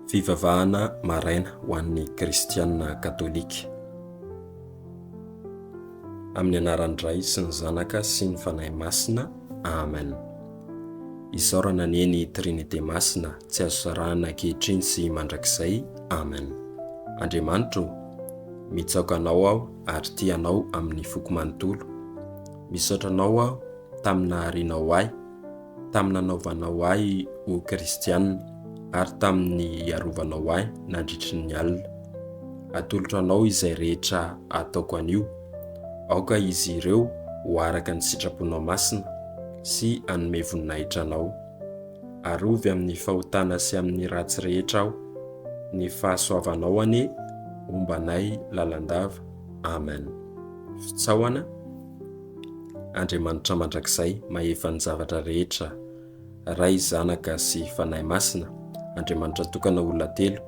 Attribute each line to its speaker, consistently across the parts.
Speaker 1: Fivavahana maraina ho an'ny kristiana katolika. Amin'ny anaran'ny Ray sy ny Zanaka sy ny Fanahy Masina. Amen. Isaorana anie ny Trinite Masina tsy azo sarahana ankehitriny sy mandrakizay. Amen. Andriamanitra o! Mitsaoka Anao aho ary tia Anao amin'ny foko manontolo. Misaotra Anao aho tamin'ny naharianao ahy. tamin'ny nanaovanao ahy ho kristiana ary tamin'ny hiarovanao ahy nandritry ny alina. Atolotro anao izay rehetra ataoko anio. Aoka izy ireo ho araka ny sitraponao masina sy hanome voninahitra anao. Arovy amin'ny fahotana sy amin'ny ratsy rehetra aho. Ny fahasoavanao anie homba anay lalandava. Amen. Fitsaohana. Andriamanitra mandrakizay mahefa ny zavatra rehetra, Ray, Zanaka sy Fanahy Masina, Andriamanitra tokana olona telo,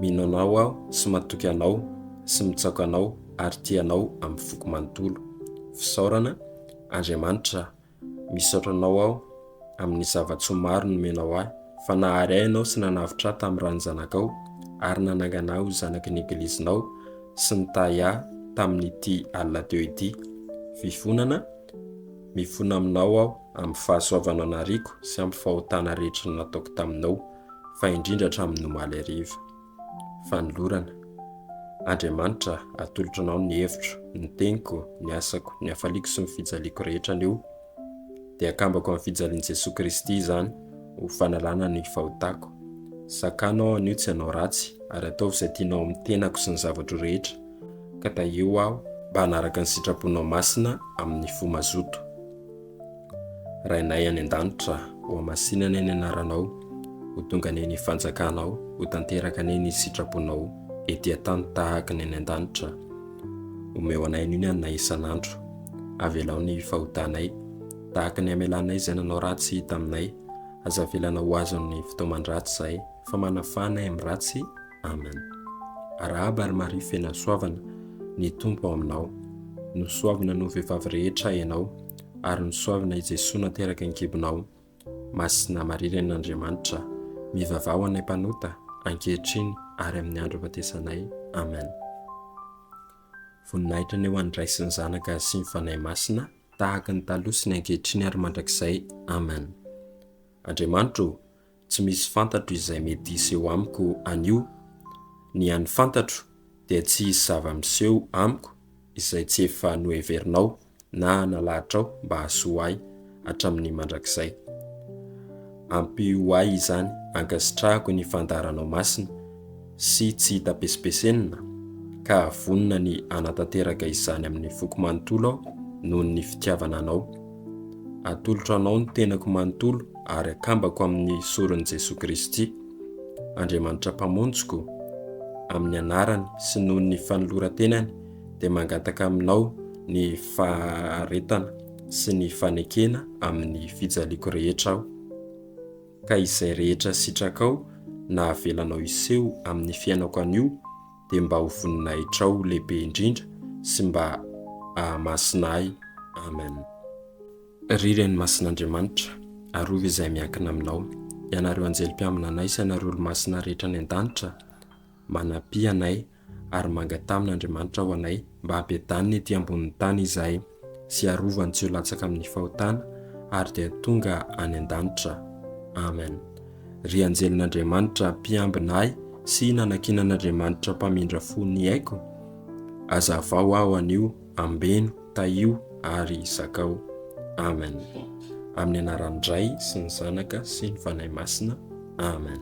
Speaker 1: mino Anao aho sy matoky Anao sy mitsaoka Anao ary tia Anao amin'ny foko manontolo. Fisaorana, Andriamanitra, misaotra Anao aho. amin'ny zava-tsoa maro nomenao ahy, fa nahary ahy ianao sy nanavotra ahy tamin'ny ran'ny Zanakao, ary nanangana ahy ho zanaky ny Eglizinao, sy nitahy ahy tamin'ity alina teo ity. Fivonana, Mifona aminao aho amin'ny fahasoavanao nariako sy amin'ny fahotana rehetra nataoko taminao, fa indrindra hatramin'ny omaly hariva. Fanolorana. Andriamanitra, atolotro Anao ny hevitro, ny teniko, ny asako, ny hafaliako sy ny fijaliako rehetra anio. Dia akambako amin'ny fijalian'i Jesoa Kristy izany ho fanalana ny fahotako. Sakano aho anio tsy hanao ratsy, ary ataovy izay tianao amin'ny tenako sy ny zavatro rehetra, ka tahio aho mba hanaraka ny sitraponao masina amin'ny fo mazoto. Rainay any an-danitra, hohamasina anie ny anaranao, ho tonga anie ny fanjakanao, ho tanteraka anie ny sitraponao ety an-tany tahaka ny any an-danitra. Omeo anay anio ny haninay isan'andro. Avelao ny fahotanay, tahaka ny hamelanay izay nanao ratsy taminay. Aza avelana ho azon'ny fitaoman-dratsy izahay, fa manafana ahy amin'ny ratsy. Amen. Arahaba ry Maria fena soavana, ny Tompo ao aminao. Nosoavina noho vehivavy rehetra ianao, ary nosoavina i Jesoa nateraka an-kibonao. Masina Maria Renin'Andriamanitra, mivavaha ho anay mpanota, ankehitriny ary amin'ny andro ahafatesanay. Amen. Voninahitra anie ho an'ny Ray sy ny Zanaka sy ny Fanahy Masina, tahaka ny taloha sy ny ankehitriny ary mandrakizay. Amen. Andriamanitro o! tsy misy fantatro izay mety hiseho amiko anio. Ny an'ny fantatro dia tsy hisy zava-miseho amiko izay tsy efa noheverinao na nalahatrao mba hahasoa ahy hatramin'ny mandrakizay. Ampio ahy izany, ankasitrahako ny fandaharanao masina. sy tsy hita pesipesenina ka vonona ny hanatanteraka izany amin'ny foko manontolo aho noho ny fitiavana anao. Atolotro anao ny tenako manontolo ary akambako amin'ny soron'i Jesoa Kristy, Andriamanitra Mpamonjiko, amin'ny anarany sy noho ny fanoloran-tenany dia mangataka aminao ny faharetana sy ny fanekena amin'ny fijaliako rehetra aho. ka izay rehetra sitrakao na avelanao hiseho amin'ny fiainako anio dia mba ho voninahitrao lehibe indrindra sy mba ahamasina ahy Amen. Ry Reny Masin'Andriamanitra, arovy izay miankina aminao, ianareo anjely mpiambina anay sy anareo olomasina rehetra any an-danitra, manampy anay ary manga tamin' Andriamanitra ho anay mba habedaniny ety ambonin'ny tany izahay sy harovany tsy ho latsaka amin'ny fahotana ary dia tonga any an-danitra. Amen. Ry anjelin' Andriamanitra mpiambina ahy sy nanankinan' Andriamanitra mpamindra fo ny aiko, azavao aho anio, ambeno, tahio ary zakao. Amen. Amin'ny anaran'ny Ray sy ny Zanaka sy ny Fanahy Masina. Amen.